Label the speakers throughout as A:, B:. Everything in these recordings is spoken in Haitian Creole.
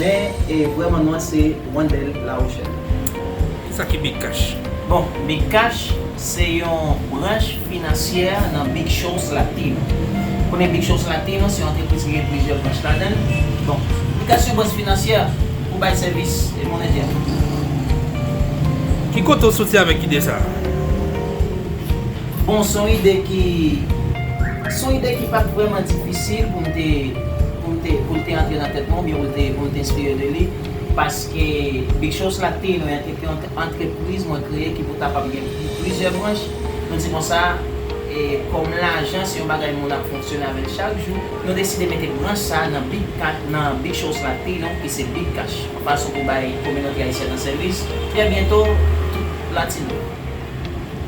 A: Men e vrè man mwen se Wandel la Rochelle. Kisa
B: ki Big Cash? Bon, Big
A: Cash se yon branch finansyè nan Big Shows Latino. Konnen Big Shows Latino se yon antrepriz ki gen plizyè branch ladan l. Bon, Big Cash se yon branch finansyè pou bay sèvis monetè.
B: Ki kote w soti avèk ide sa a?
A: Bon son ide ki son ide ki pat vrèman difisil pou m te pou m te pou l te antre nan tèt mwen oubyen pou l te pou m te enspire de li paske Big Shows la te yon antrepriz mwen kreye ki pou kapab gen plizyè branch nou di konsa e kòm lajan se yon bagay moun ap fonksyone avè l chak jou nou deside mete branch sa nan Big Ka nan Big Shows la te yon ki se Big Cash yon fason pou bay kominote ayisyèn nan sèvis trè byento tout latino.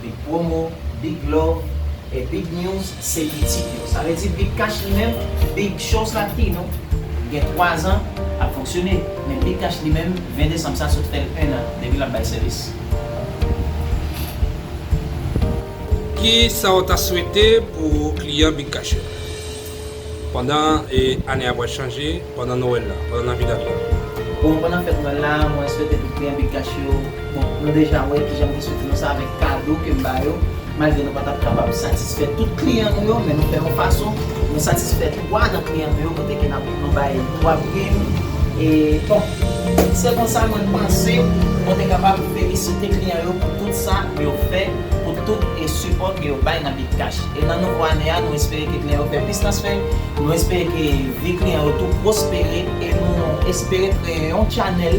A: Big promo, big love, e big news se pitit yo. Sa vle di big cash li menm, big show sa t pi nou. Li gen 3 zan ap fonksyone, men big cash li menm 20 desanm sa sot fè l 1 an depi l ap bay sèvis.
B: Ki sa w ta swete pou kliyan big cash yo? Pandan ane a pral chanje, pandan Nowèl la, pandan Navidad la. Bon, pandan fèt
A: Nwèl la, mwen swete tout kliyan Big Cash yo, bon, nou deja wè kijan m te swete nou sa avèk kado ke m ba yo, malgre nou pa t ap kapab satisfè tout kliyan nou yo, men nou fè yon fason nou satisfè 3 nan kliyan nou yo kote ke n ap nou bay 3 prim, e, bon, se konsa mwen panse mwen te kapab felisite kliyan yo pou tout sa yo fè, pou tout e sipò ke yo bay nan Big Cash. E nan nouvo ane a, nou espere ke kliyan yo fè plis transfè, nou espere ke vi kliyan yo tou pwospere e nou espere kreye yon channel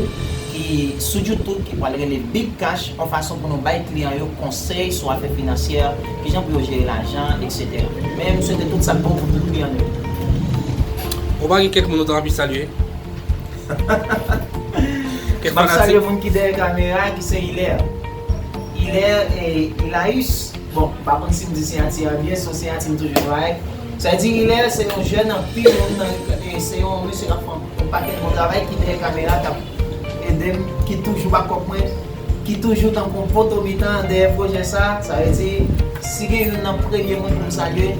A: ki sou YouTube ki pral rele Big Cash yon fason pou nou bay kliyan yo konsèy sou afè finansyè, kijan pou yo jere lajan, etc. Men m swete tout sa k bon pou tout kliyan nou yo.
B: Ou pa gen kèk moun ou ta anvi salye?
A: Kèk fanatik? M ap salye moun ki dèyè kamera ki se Hilaire. Hilaire et Hilaüs. Bon, m pa konn si m di siyati a byen, se yon siyati m toujou travay ak. Sa di Hilaire se yon jèn anpil moun nan se yon mesye k ap fè yon pakèt bon travay ki dèyè kamera k ap ede m ki toujou ba kòb mwen ki toujou tankou yon poto mitan dèyè pwojè sa sa vle di si gen youn nan premye moun pou m salye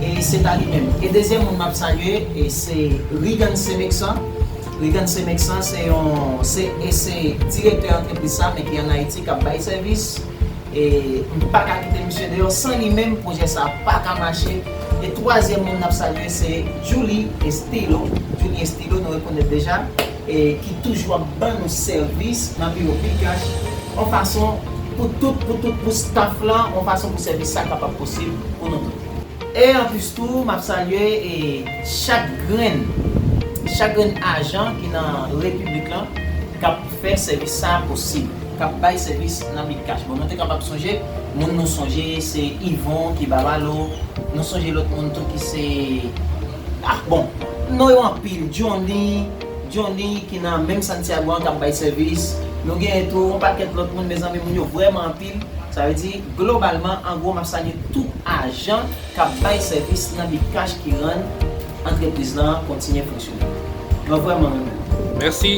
A: e se ta li menm e dezyèm moun m ap salye e se Reagan Semexan Reagan Semexan se yon se e se direktè antrepriz sa men ki an Ayiti k ap bay sèvis E m pa ka kite misye deyò san li menm pwojè sa pa ka mache e twazyèm moun n ap salye se Djouly Estilo Djouly Estilo nou rekonèt deja e ki toujou ap ban nou sèvis nan biwo Bcash on fason pou tout pou tout pou staf lan on fason pou sèvis sa kapab posib pou nou tout. E anplis tou m ap salye e chak grenn chak grenn ajan ki nan repiblik lan k ap fè sèvis sa posib, k ap bay sèvis nan Midcash. Bon nou te kapab sonje moun nou sonje se Yvon ki ba Malo, nou sonje lòt moun tou ki se ah bon non yo anpil Johnny Johnny ki nan menm Santiago an k ap bay sèvis, nou genyen tou yon pakèt lòt moun mezanmi moun yo vrèman anpil sa vle di globalman an gwo m ap salye tout ajan k ap bay sèvis nan Midcash ki rann antrepriz lan kontinye fonksyone. Mwen vrèman renmen nou. Mèsi.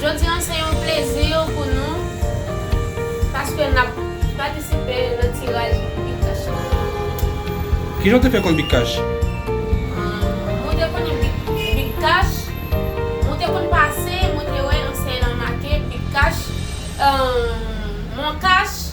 C: Jodi an se yon plezi pou nou paske nap patisipe nan tiraj Big Cash la.
B: Kijan w te fè konn Big Cash? Mwen te konnen
C: Big Cash, mwen te konn pase mwen te wè ansyen an make Big Cash, Moncash.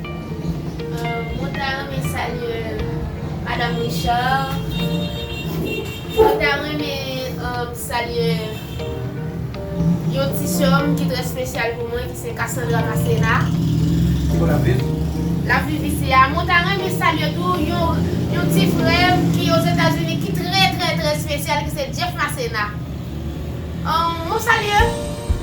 C: Mwen ta renmen salye madam Richard Mwen ta renmen salye Yon ti sèm ki trè spesyal pou mwen ki se Cassandra Massena Kote
A: lap viv? Lap viv isi
C: a Mwen ta renmen salye tou Yon ti frèm ki ozetazini ki trè trè trè spesyal ki se Jeff Massena Mwen salye.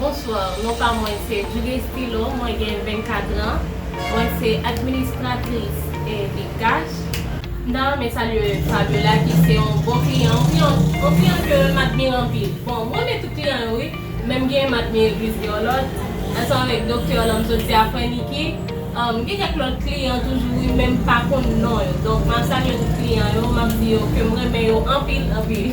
B: Bonsoir,
D: non pa mwen se Julie Estilo, mwen gen 24 ans, mwen se administratrice Bcash. M ta renmen salye Fabiola ki se yon bon kliyan, yon kliyan, yon kliyan ke m admire anpil. Bon, m renmen tout kliyan yo wi, men m gen, m admire plis de yon lòt, ansanm avèk doktè la m sot di a frè Niki, m gen kèk lòt kliyan toujou wi men m pa konn non yo. Donk m ap salye tout kliyan yo, m ap di yo ke m renmen yo anpil, anpil.